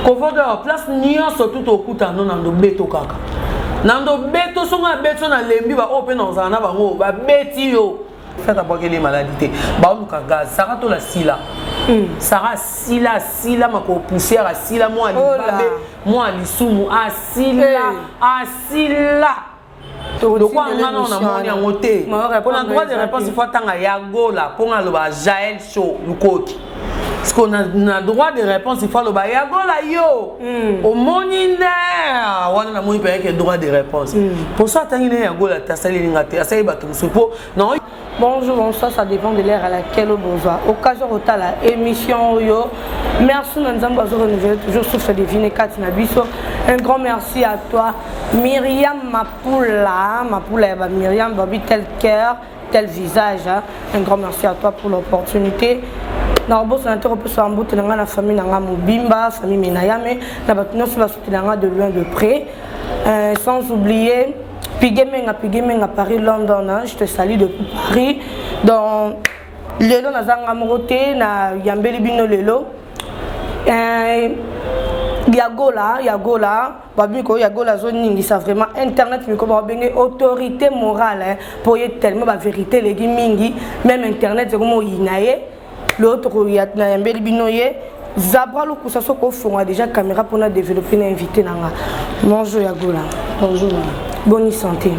kovodoa place nyonso tu tokuta no na ndobeto kaka na ndobeto songo ya beto na lembi baoyo mpe naozala na bango babeti yo fata bwakeli maladi te baoluka gaz sara tola sila hmm. sara asila asila makolo poussière asila mwa libabe mwa lisumu asila asila lokola nga nao namoni yango te mpona droit de réponse fo atanga ya gola mpo nga aloba jael show lukoki parceke na, na droit de réponse ifo aloba ya gola yo mm. omoni nde ah, wana namoni mpenza ke droit de réponse mposo hmm. mm. atangi nde ya gola te asali elinga te asali bato mosusu mpo Bonjour, bonsoir, ça dépend de l'heure à laquelle bozwa occasion kotala émission oyo. Merci na Nzambe azo renouveler toujours souffle de vie ne kati na biso. Un grand merci à toi Myriam Mapula, Mapula ya ba Myriam babi tel cœur, tel visage. Hein. Un grand merci à toi pour l'opportunité. na kobosana te kopesa mbote na ngai na famille na ngai mobimba famille menayame na bato nyonso basutela ngai de loin de près Euh, sans oublier Pigemenga, Pigemenga, Paris, London, hein, je te salue depuis Paris. Dans lelo nazanga moko te na yambeli bino lelo euh, ya gola ya gola babi ko ya gola azoningisa vraiment internet miko babenge autorité morale mpo ye tellement bavérité eleki mingi même internet ekomoyina ye lelo tokoya nayambeli bino ye zabra lokusa soki ofonga déjà caméra mpona développer na invité na nga bonjour ya gola bonjour boni santé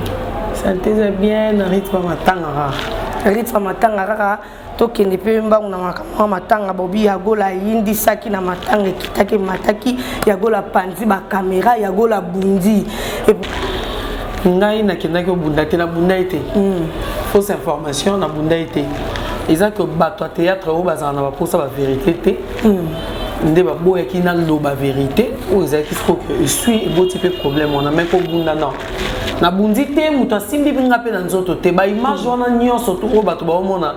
santé eza bien na rythme matanga kaka rythme matanga kaka tokende mpe mbangu na makambo ya matanga bobi yagola ayindisaki na matanga ekitaki emataki yagola panzi bakamera yagola bundi ngai nakendaki obunda te nabunda ye te hmm. fausse information nabunda ye te eza ke bato ya théâtre oyo bazala na baposa baverité te hmm. nde baboyaki naloba verité oyo ezalaki sikoyo esui eboti mpe problème wana mai kobunda non nabundi te moto asimbi nga mpe na nzoto te baimage wana nyonso oyo bato baomona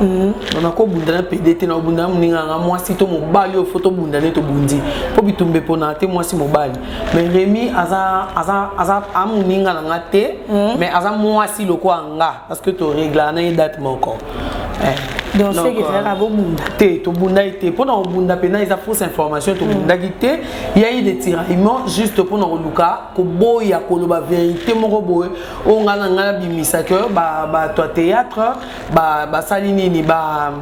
Mhm. na kobunda na pede te na kobunda na moninga yanga mwasi to mobali oyo fo tobunda nde tobundi mpo bitumba eponaka te mwasi mobali mais remi aza aza aza a moninga na nga te mhm. mais aza mwasi lokola nga parce que toreglaka na ye date moko eh. donc soki ezalaka euh, bobunda te tobunda ye te mpo na kobunda mpena eza fausse information tobundaki mhm. te ya ye de tiraillement juste mpo na koluka koboya koloba verité moko boye oyo ngai na ngai nabimisaki bato ya théâtre ba basali nini ba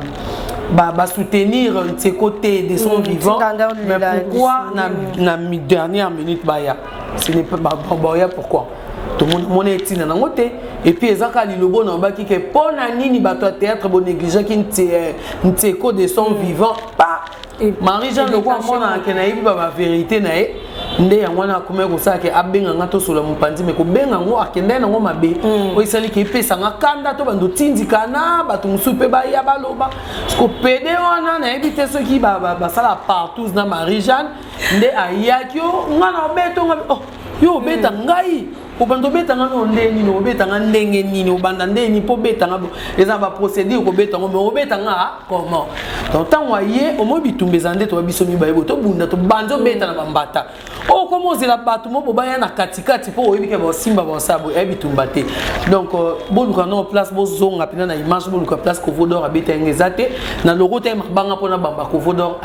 ba, ba soutenir Nseko te de son mm, vivant mais pourquoi na, na dernière minute baya ce n'est pas ba, ba, baya pourquoi tomona etina nango te epuis eza kaka lilobo na obaki ke mpo na nini bato ya théâtre bonegligeaki nseko de son mm. vivant pa marie jean loko amonana ke nayebi ba baverité na ye nde yango wana akomaki kosala ke abenga nga tosola mopanzi me kobenga yango akendaki nango mabe mm. oyo esali ke epesa nga kanda to bando tindikana bato mosusu mpe baya baloba siko pede wana nayebi te soki basala partous na marie jeanne nde ayaki o nga na obeto nga oh yo obeta mm. ngai obanda obeta nga no ndenge nini obeta nga ndenge nini obanda ndenge nini mpo obeta nga eza baprocédure kobeta yango me obeta nga ah, comment donc ntango aye omoi bitumba eza nde toba biso mibale bo tobunda tobandi obeta na bambata oyo oh, koma ozela bato mo bobaya na katikati mpo oyebi ke baosimba baosala boye ayebi bitumba te donc euh, boluka nao place bozonga mpena na image boluka place kovodor abeta yango eza te na loko te mabanga mpo na bamba kovodor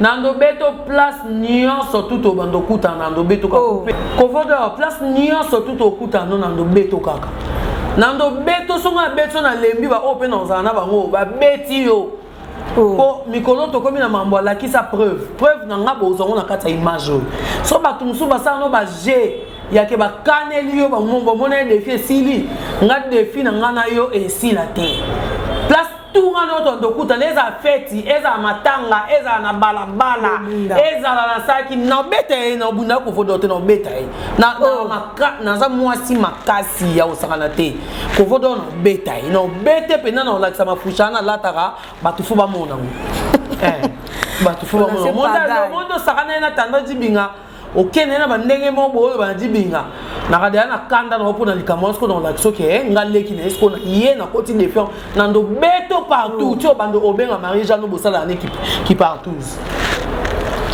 na ndobe to place nyonso tu tobanda okutana na ndobe to oh. kovoda place nyonso tu tokutana no na ndobe to kaka na ndobe to songo na beti na lembi baoyo oh, mpe na ozala na bango babeti yo oh. po mikolo tokomi na mambo alakisa preuve preuve na nga bozwa ngo na kati ya image oyo so bato mosusu basala no baje yake bakaneli yo bamombo omona ye defi esili nga defi na nga na yo esila te tunga no tonto okutana ezala feti ezala matanga ezala na balabala ezala na saki nabeta ye na obunda kovodo te nabeta ye oh. naza mwasi makasi ya kosakana te kovodo nabeta ye nabete mpenza na kolakisa mafushana nalataka bato fo bamona yango eh, bato fo bamona mondo osakana ye na tando dibinga okende na bandenge moko boyo banadi binga nakadela na kanda nao mpona likambo wana sikoyo nakolakisa oke eh, nga leki na ye sikoyo na ye nakoti defiance na ndo beto partout mm. ti obanda obenga marie jeanne bosala na ne kipartouze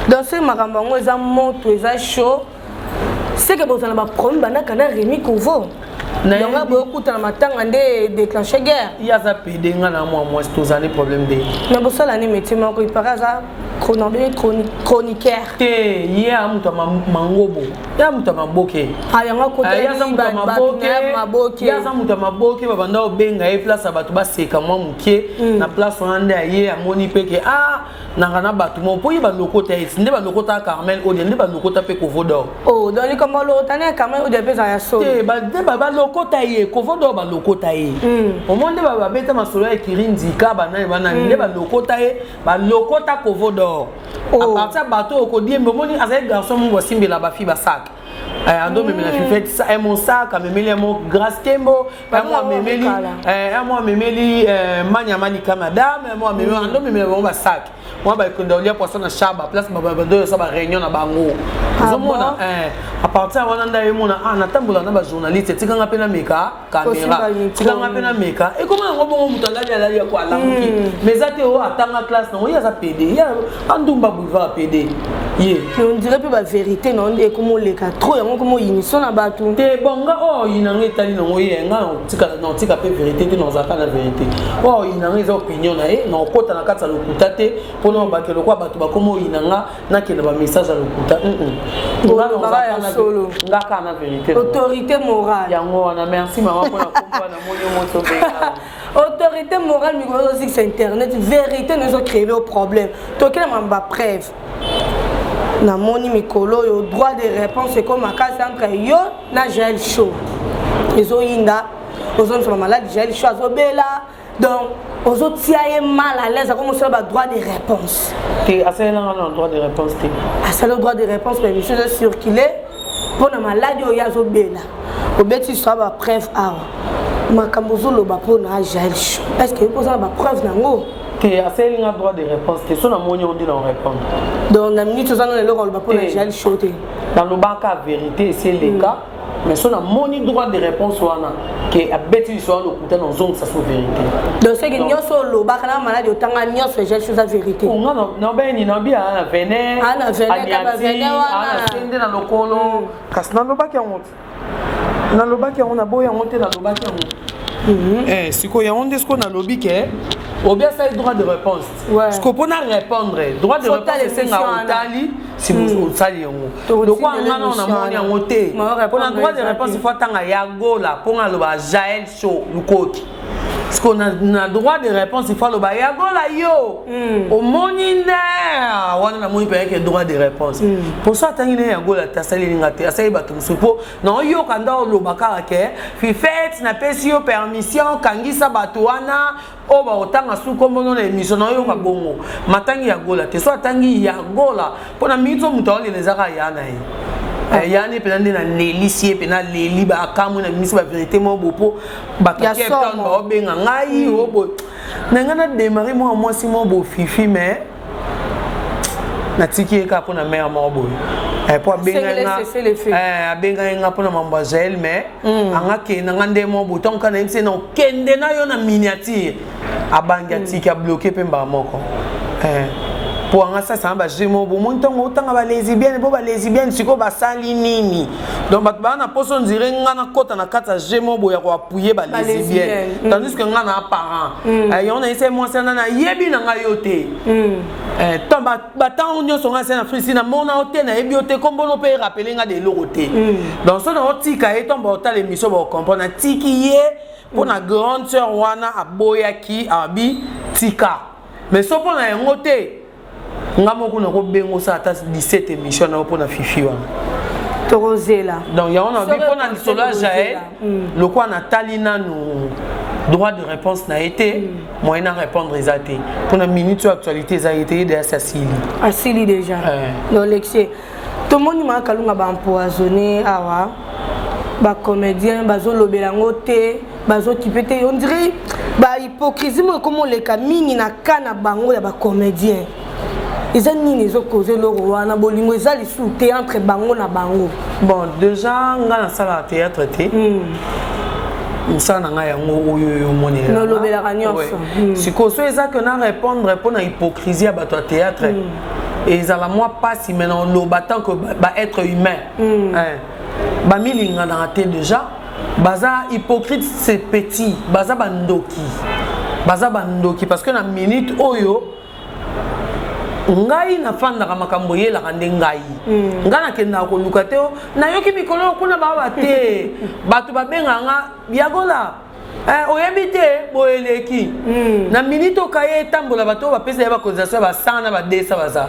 dans ce makambo yango eza moto eza chaud seke bozala baproblème banaka na remi kovo yango aboye okutana matanga nde déclenche guerre ye aza pede nga na mwa mwasi tozali problème de na bosala nde métier moko ipaka aza cronobele chroniqueur te ye a moto ya mangobo ye a moto ya maboke ah, yango akotaza moto ya maboke babanda obenga ye place ya bato baseka mwa moke hmm. na place wana nde aye amoni mpe ke a ah, nanga na bato mo mpo ye balokota ye nde balokota carmel odia nde balokota mpe kovodor o oh, donc likambo alokota ne carmel odia mpe eza ya solo te nde balokota ye kovodor balokota ye hmm. omoi nde babeta masolo ya ekiri nzika banani banani hmm. nde balokota ye balokota kovodor oh. apartir bato oyo kodiembe omoni azali garçon moko asimbela bafi basaka Eh, ando amemela fifete mm. eh, mosaka amemeli yango grace kembo yango amemeli yango eh, amemeli manya malika madame yango amemeli mm. ando amemela bango basaki mwa bakonda olia poisson na shaba place babando yosa baréunion na bango ah ozomona apartir wana nda yemona ah, natambola na bajournaliste etikanga mpe na meka kamera tika nga mpe nameka ekoma yango bongo moto alali alali yako alamuki hmm. mais eza te oyo oh, atanga classe nango ye aza pede ye andumba boulevard pede ye ondire mpe baverité na yo nde ekoma oleka trop yango ekoma oyiniso na bato te bon nga oyo oh, oyinanga etali nango ye nga naotika mpe verité te naozalaka na verité oyo oh, oyinanga eza opinion na ye naokota na kati ya lokuta te mpona obake lokola bato bakoma oyinanga nakenda ba message ya lokuta ngaka na verité autorité morale yango wana merci mama mpona komba na moni moto autorité morale mikolo ozozikisa internet verité no ezocreve o problème tokela mama bapreuve namoni mikolo oyo droit de réponse ekoma makasi entre yo na jael show ezoyinda ozongisama maladi jael show azobela donc ozotia ye mal à l'aise akomi osala badroit de réponse te asalelanga na droit de réponse te asala droit de réponse na émission eza circule mpo na maladi oyo azobela obeti swa bapreuve awa makambo ozoloba mpo na jael cho est ce que oza na bapreuve na yango te asali nga droit de réponse te so namoni yango nde na répondre donc na minute oza na eloko aloba mpo na jael cho te nalobaka verité eseleka mais so namoni droit de réponse wana ke abeti liso ya lokuta na ozongisa so vérité donc soki nyonso olobaka na maladi otanga nyonso ejali soza vérité nga nabayeni nabi ana vene aniati ana sende na lokolo mm. kasi nalobaki yango te nalobaki yango naboyi yango te nalobaki yango mhm. eh, sikoyo yango nde sikoyo nalobi ke obi asali droit de réponse sikoyo mpona répondre droit de réponse esenga otali si hmm. osali yango lokwa nga nao namoni yango te mpona droit de réponse ifo atanga ya gola mpo nga aloba jael show lukoki siko na droit de réponse ifo aloba ya gola yo hmm. omoni nde ah, wana namoni mpenake droit de réponse mpo hmm. so atangi nde ya gola te asaleli nga te asali bato mosusu mpo naoyoka nda oloba kaka ke fifete napesi yo permission kangisa bato wana oyo bakotanga su nkombo no na emisio na oyoka bongo matangi ya gola te so atangi ya gola mpo na mingi so moto aolela ezaka ya na ye ah. eh, yani mpena nde nalelisi ye mpena leli baakamwe na bimisi baverité moko bo mpo bato ya capton baobenga ngai oyo hmm. boye na ngai na demare mwana mwasi moko bofifi mais natiki ye kaka mpo na mare moko boye eh, mpo eh, abengaki nga mpo na mambo ya jael mais hmm. anga kenda nga nde moko boye ntango kaka nayebisi ye na okende na yo na miniature abangi atiki hmm. abloke mpe mbala moko eh. mpo anga sasa na bajeu moko bomoni ntango otanga balesibienne mpo balesibienne sikoyo basali nini donc bato baa na poso ondire ngai nakɔta na kati ya je mo boya koapuye balesibienne mm. tandis que ngai na apparent mm. eh, yango nayese mwasi ana nayebi na ngai yo te mm. eh, to batango nyonso ngai se na frisi namona yo te nayebi yo te kombono mpe erapele ngai de eloko te donc so naotika ye ntomba otala emission baocomprendre natiki ye mpo na grande sœur wana aboyaki abi tika mais so mpo na yango te nga moko nakobenga osala ata 17 émission na yo mpo na fifi wana tokozela donc yango na bi mpo na lisolo ya jael hmm. lokola natali nanu droit de réponse na ye te hmm. moyen na répondre eza te mpo na minute oyo actualité eza ye te ye deya si asili asili déjà eh. donc lexie tomoni ma kalunga ba empoisonné awa ba comédien bazolobela yango te bazokipe te on dirait ba hypocrisie moko ekomoleka mingi na ka na bango ya ba comédien eza nini ezokoza eloko wana bolingo eza lisusu te entre bango na bango bon déjà ngai nasalaka théâtre te mm. mosala na ngai yango oyo oyo omonelelolobelaka nyonso mm. sikoyo so eza ke na répondre mpo na hypocrisie ya bato ya théâtre mm. ezala mwa mpasi mai na oloba tant que baêtre ba humain mm. eh. bamilinganaka te déjà baza hypocrite c'est petit baza bandoki baza bandoki parce que na minute oyo ngai nafandaka makambo eyelaka nde ngai mm. ngai nakendaka koluka te nayoki mikolo kuna baba te bato babengaka nga yagola Eh, oyebi te boye eleki hmm. na minite okaye etambola bato oyo bapesa ye bacotisation ya ba 100 na ba 200 baza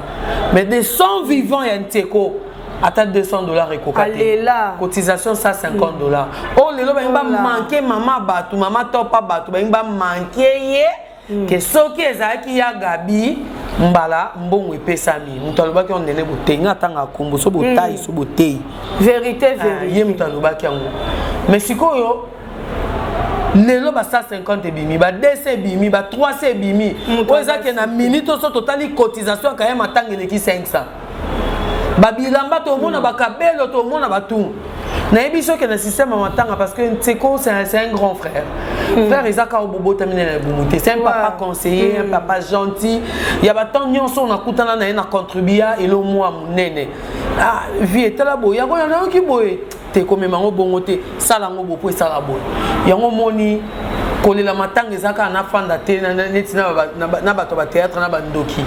mais de 100 vivant ya nteko ata 200 dollars ekoka te cotisation 150 dollars oyo oh, lelo balingi bamanke mama bato mama topa bato balingi bamanke ye mm. ke soki ezalaki ya gabi mbala mbongo epesami moto alobaki yango nene boteyi nga atanga akombo so botayi mm. so boteyi verité ah, verité ye moto alobaki yango mais sikoyo lelo ba 150 ebimi ba 200 ebimi ba 300 ebimi oyo ezaki na minute oso totali cotisation ya kayema ntango eleki 500 babilamba tomona mm. bakabelo tomona batu nayebi soki na système ya matanga parce que nseko c'est un grand frère mm. frère eza kaka obobotami na libumu te c'est un papa conseiller un mm. papa gentil ya batemp nyonso nakutana na ye na contribua elo mwa monene ah, vie etala boye yango nayoki boye te komema yango bongo te sala yango bopo esala boye yango omoni kolela matanga eza kaka nafanda te neti na bato ya bateatre na bandoki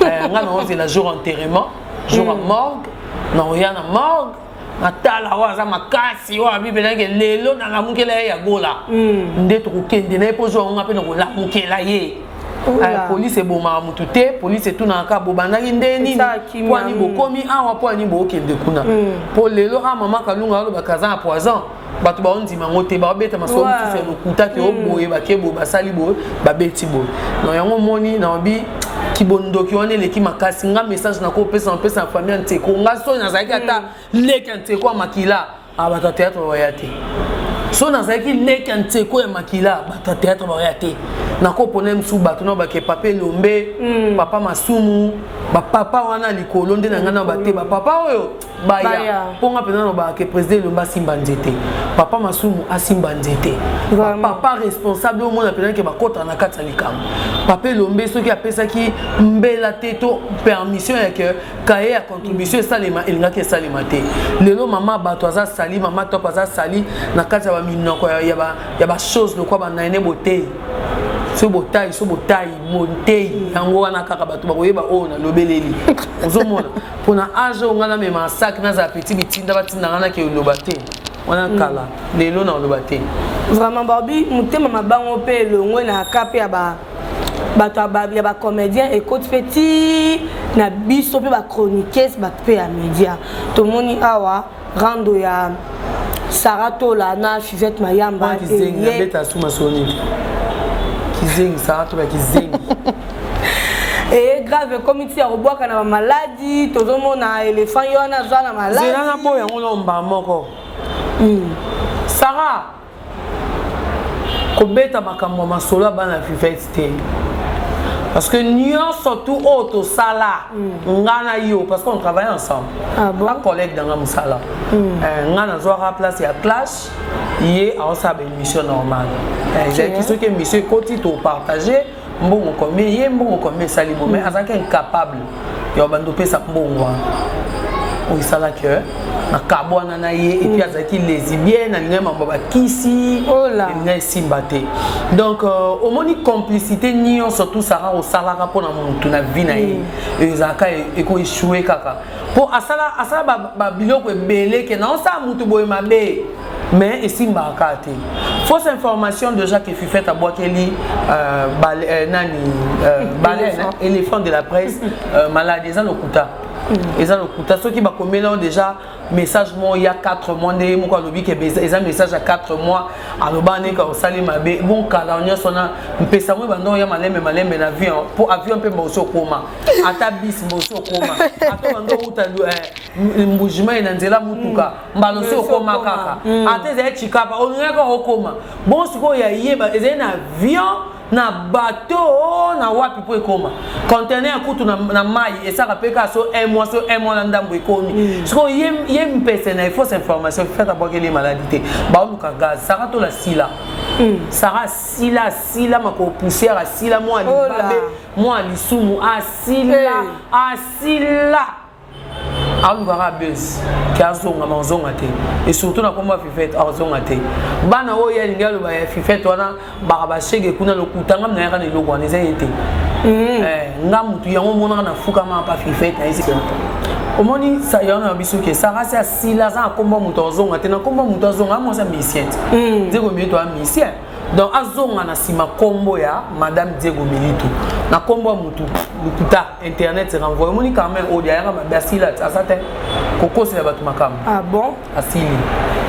eh, ngai naozela jour enterrement jour ya mm. morgue naoya na morgue natala oyo aza makasi oyo abibelaki lelo nalamukela ye ya gola mm. nde tokokende na ye mpo zwa yango ngai mpe nakolamukela ye Euh, polise ebomaka motu te polise etunaka kaka bobandaki nde nini mpo ani bokomi awa mpo ani bookende kuna mpo mm. lelo a ah, mama kalunga alobaka aza na poison bato baondima yango te baobeta masolo mosusu ya lokuta ke oboye mm. bake boye basali boye babeti boye na yango omoni naobi kibondoki wana eleki makasi nga message nakopesa napesa na famille ya nteko nga soni nazalaki ata mm. leki ya nteko ya makila Ah, bato ya théâtre bawaya te so nazalaki leki ya nseko ya makila bato ya théâtre bawaya te nakopona mosusu bato na bake papa elombe mm. papa masumu bapapa wana likolo nde na ngai na bate bapapa oyo baya mpo nga mpenza nalobaka ke président elombe asimba nzete papa masumu asimba nzete papa responsable omona mpenza ke bakota na kati ya likambo papa elombe soki apesaki mbela te to permission ya ke kaye ya contribution esalema elingaki esalema te lelo mama bato aza sali mama top aza sali na kati ya baminoko ya bachose lokwa banaine botei so botai so botai montei yango wana kaka bato bakoyeba oyo nalobeleli ozomona mpona age oyo ngai namema saki nazala peti bitinda batinda ngai nake oloba te wana mm. kala lelo na oloba te vraiment barbi motema mabango mpe elongwe na ka mpe ya ba bato ya bacomédien ekoti mpe ti na biso mpe bachroniquese bato mpe ya média tomoni awa rando ya sara tola na fivette mayamba kizengi sara tola kizengi eye grave ekomi ti ya kobwaka na bamaladi tozomona elefant ye wana aza na maladi zela na boya yango na omba moko hmm. sara kobeta makambo ya masolo ya bana vivete te parce que nyonso tu oyo tosala mm. nga na yo parce qu'on travaille ensemble ah bon? bacollègue na nga mosala mm. eh, nga nazwaka place ya clash ye aosala baémission normale eh, ezalaki soki émission ekoti topartage mbongo combien ye mbongo combien esali bo mais azalaki incapable ya bando pesa mbongo wana oyo esala ke nakabwana na ye epuis mm. azalaki lesibienne alingaki mambo bakisi elinga esimba te donc euh, omoni complicité nyonso tout sara osalaka mpo na motu na vie na ye mm. ezalaka ekoechoue kaka mpo asala babiloko ebele ke naosala motu boye mabe mais esimbaka kaka te fausse information de jacques efifete abwakeli euh, euh, nani euh, baleine éléphant de la presse malade eza lokuta mm. eza lokuta soki bakomeli yango déjà message moko ya 4 mois nde ye moko alobi ke eza message ya 4 mois aloba ndenge osali mabe bon kala nyonso na mpesa yango ebanda oya malembe malembe na avion mpo avion mpe mbosi okoma ata bis mbosi okoma ata banda outa eh, mbujimai na nzela motuka mbala osi okoma kaka mm. ata ezali chikapa olingaki kaka okoma bon sikoyo ya yeba ezali na avion na bateau na wapi mpo ekoma contener kutu na, na mai esaka mpe kaka so un mois so un mois na ndambo ekomi mm. sikoyo ye, ye mpese na efausse information fete abwakeli maladi te baoluka gaz saka tola sila mm. saka asila asila makolo poussière asila mwa libabe mwa lisumu asila hey. asila alukaka buzz ke azonga ma ozonga te e surtout na kombo ya fifete azonga te bana oyo ye alingi aloba ya fifete wana baka bashege kuna lokuta nga minayaka na eloko wana eza ye te mm. eh, nga mutu yango omonaka na fukama pa fifete na esi omoni sayano ya biso ke sarasi asila aza na kombo ya moto azonga te na kombo ya moto azonga amwasi ya misien te mm. diego milito ya misien donc azonga na nsima kombo ya madame diego milito na kombo ya motu lokuta internet renvoie omoni carmen odi ayaka mabe asila aza te kokosela bato makambo ah bon asili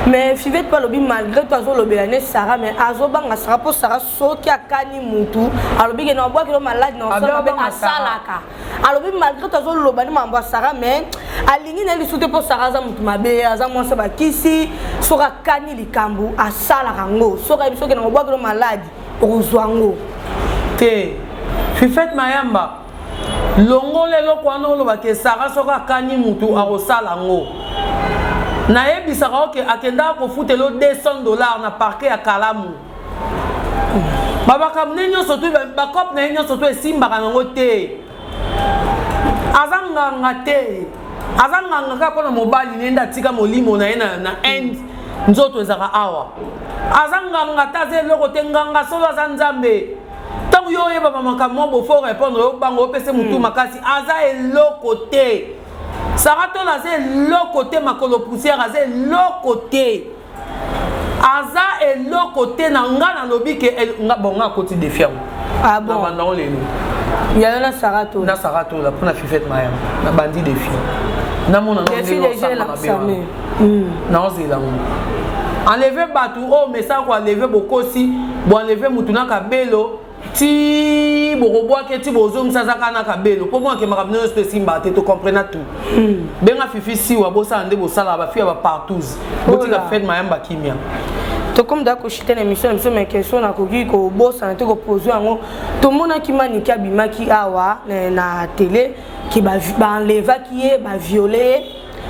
mais fivete mpe alobi malgré to azolobela ne sara mais azobanga sara mpo sara soki akani mutu alobi ke na obwaki no maladi na osala mabe asalaka alobi malgré to azoloba ne makambo ya sara mais alingi na ye lisusu te mpo sara aza motu mabe aza mwasi bakisi soki akani likambo asalaka yango soki ayebi soki na obwaki no maladi okozwa yango te fifete mayamba longola eloko wana oloba ke sara soki akani motu akosala yango nayebisaka oke akendaka kofutela 200 dollars na parke ya kalamu babakambo ne nyonso tu bakope na ye nyonso tu esimbaka nango te aza nganga te aza nganga kaka mpona mobali nende atika molimo na ye na, na inde nzoto ezalaka awa aza nganga te aza eloko te nganga solo aza nzambe ntango yo oyeba bamakambo mwa bofo répondre yo banga opese motu hmm. makasi aza eloko te saratola aza eloko te makolo poussière aza eloko te aza eloko te na nga nalobi ke nga bon nga akoti defi yango ah bon. na banda yango lelo yayo na sara tola na sara tola mpo na fifete maya na bandi defi namona naozela ngo enleve bato oyo oh, mesa koenleve bokosi boenleve motu na kabelo ti bokobwaka ti bozongisa aza kaka na kabelo mpo mwana akemaka bino nyonso esimbaka te tocomprena tout hmm. benga fifi siwa bosala nde bosalaka bafi ya bapartous botika fred mayamba kimia tokomi da koshite na émission na biso mai question nakoki kobosana te kopose yango tomonaki manike abimaki awa na tele ke baenlevaki ye baviole ye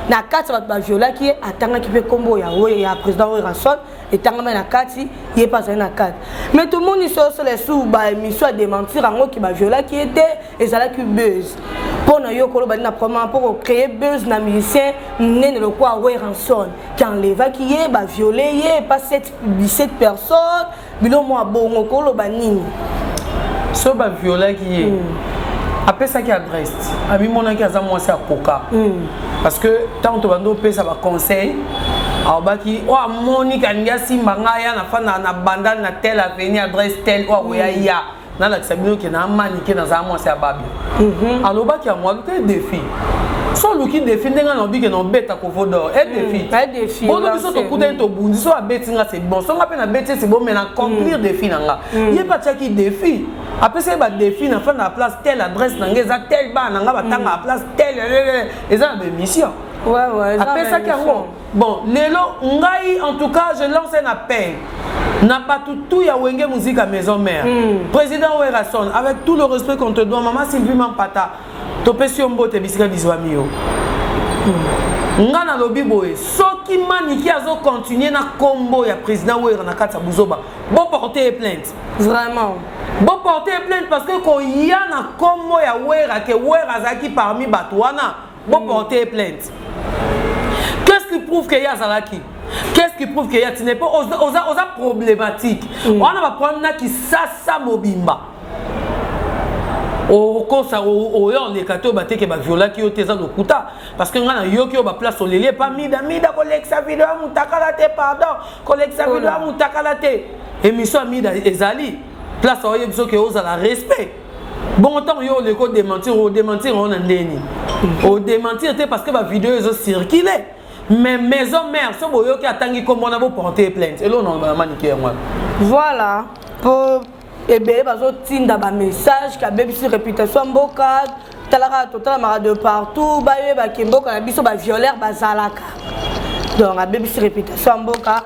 na kati ya bato baviolaki ye atangaki mpe nkombo ya, ya président werrason etangama na kati ye mpe azali na kati me tomoni sosolo esu baemission ya dementir yango ki baviolaki ye te ezalaki buse mpo na yo koloba nde na promama mpo kocreye buse na musicien monene lokola weranson ki enlevaki ye baviole ye pa 17 personnes bilo mwa bongo koloba nini so baviolaki ye mm. apesaki adresse amimonaki aza mwasi akoka mm. parce que ntango tobandi opesa baconseil alobaki oyo amoni kalingi asimba ngai ya nafanda na bandal na tel aveni adresse tel oyo akoya mm. ya nalakisa bino ke na manike nazala mwasi ya babi mhm. alobaki yango aluki defi so oluki defi ndenge nalobi ke nobeta kovo dor e defi bono biso tokutani tobundi so abeti nga se bon so nga mpe nabeti ese bon mai na accomplir mm. defi na nga mm. ye mpe atiaki defi apesaki badefi na fanda na place telle adresse na ngai eza telle bana na ngai batanga na mm. place telle eza na baémission apesaki yango bon lelo ngai en tout cas je lance un appel na bato tout ya wenge muzika maison mère mm. président werrason avec tout le respect qu'on te doit mama sylvie mampata topesi yo mbote bisika bizwami yo mm. nga nalobi boye soki maniki azokontinue na nkombo ya président wera na kati ya buzoba boporte ye plainte vraiment bo porter plainte parce que koya na kombo ya wera ke wera azalaki parmi bato wana bo mm. porter plainte qu'est-ce qui prouve que ye azalaki qu'est-ce qui prouve que ye atine mpo oza, oza, oza problématique mm. wana baproblème na kisasa mobimba okosa oya oleka te oyo bateke baviolaki yo te eza lokuta parce que ngai nayoki oyo baplace oleli epa mida mida kolekisa video ya motakala te pardon kolekisa video ya mutakala te émission ya mida ezali place aoyebi soki ozala respect bongo ntango yo oleki odementir odementir yango na ndeni mm. odementir te parce que bavideo ezo circule mais maison mère so boyoki atangi nkombo na boporte plainte eloo na manike yango wana voilà po ebele bazotinda bamessage kabebisi reputation ya mboka talaka totalamaka de partout bayebaki mboka na biso bavioleur bazalaka donc abebisi reputation ya mboka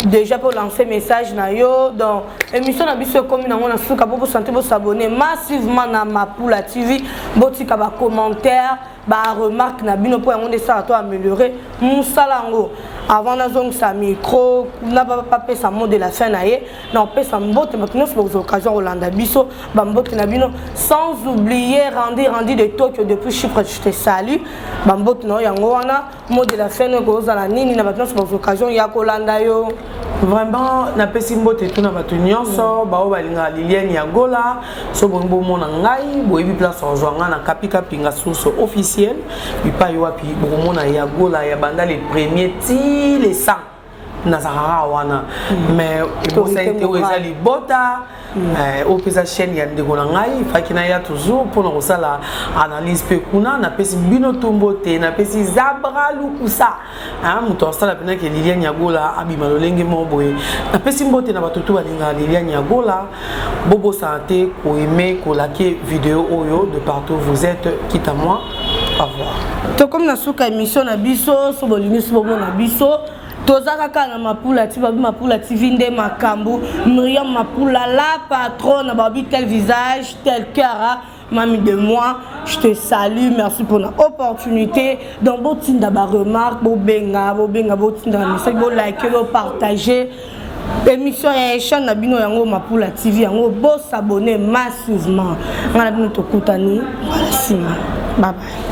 déjà mpo lancer message na yo donc émission na biso ekomi nango na suka mpo bosante bosabonne massivement na mapula tv botika bacommentaire baremarque na bino mpo yango nde esala to améliore mosala yango avant nazongisa micro na bapesa mot de la fin na ye na opesa mbote bato nyonso bakozwa occasion ya kolanda biso bambote na bino sans oublier randi randi de tokyo depuis chypre je te salut bambote na yo yango wana mot de la fin no ekozala nini na bato nyonso bakozwa occasion ya kolanda yo vraiment napesi mbote tuna bato nyonso mm. baoyo balingaka liliane ya gola so bolingi bomona ngai boyebi place ozwa ngai na kapikapinga source officielle bipai wapi bokomona ya gola ya banda le premier ti le 100 nazalaka kaka wana mm. mais ebosani te oyo eza libota mm. eh, oyo mpe eza chaîne ya ndeko na ngai faki naya toujours mpona kosala analyse mpe kuna napesi bino tumbo te napesi zabra lukusa ah, moto asala mpenake lilian yagola abima lolenge moko boye napesi mbote na bato to balingaka lilian yagola bobosana te ko aime ko lake video oyo de partout vous êtes quitte à moi au revoir tokomi na suka émission na biso so bolingi so bomona biso toza kaka na mapula ti babi mapula tv nde makambo miriam mapula la patronne babi tel visage tel cœur Mami de moi, je te salue, merci pour l'opportunité. Donc, bo tinda ba remarque, bo benga, bo benga, bo tinda message, bo liker, bo partager. émission ya echan na bino yango mapula tv yango bosabone massivement ngai na bino tokutani nsima babai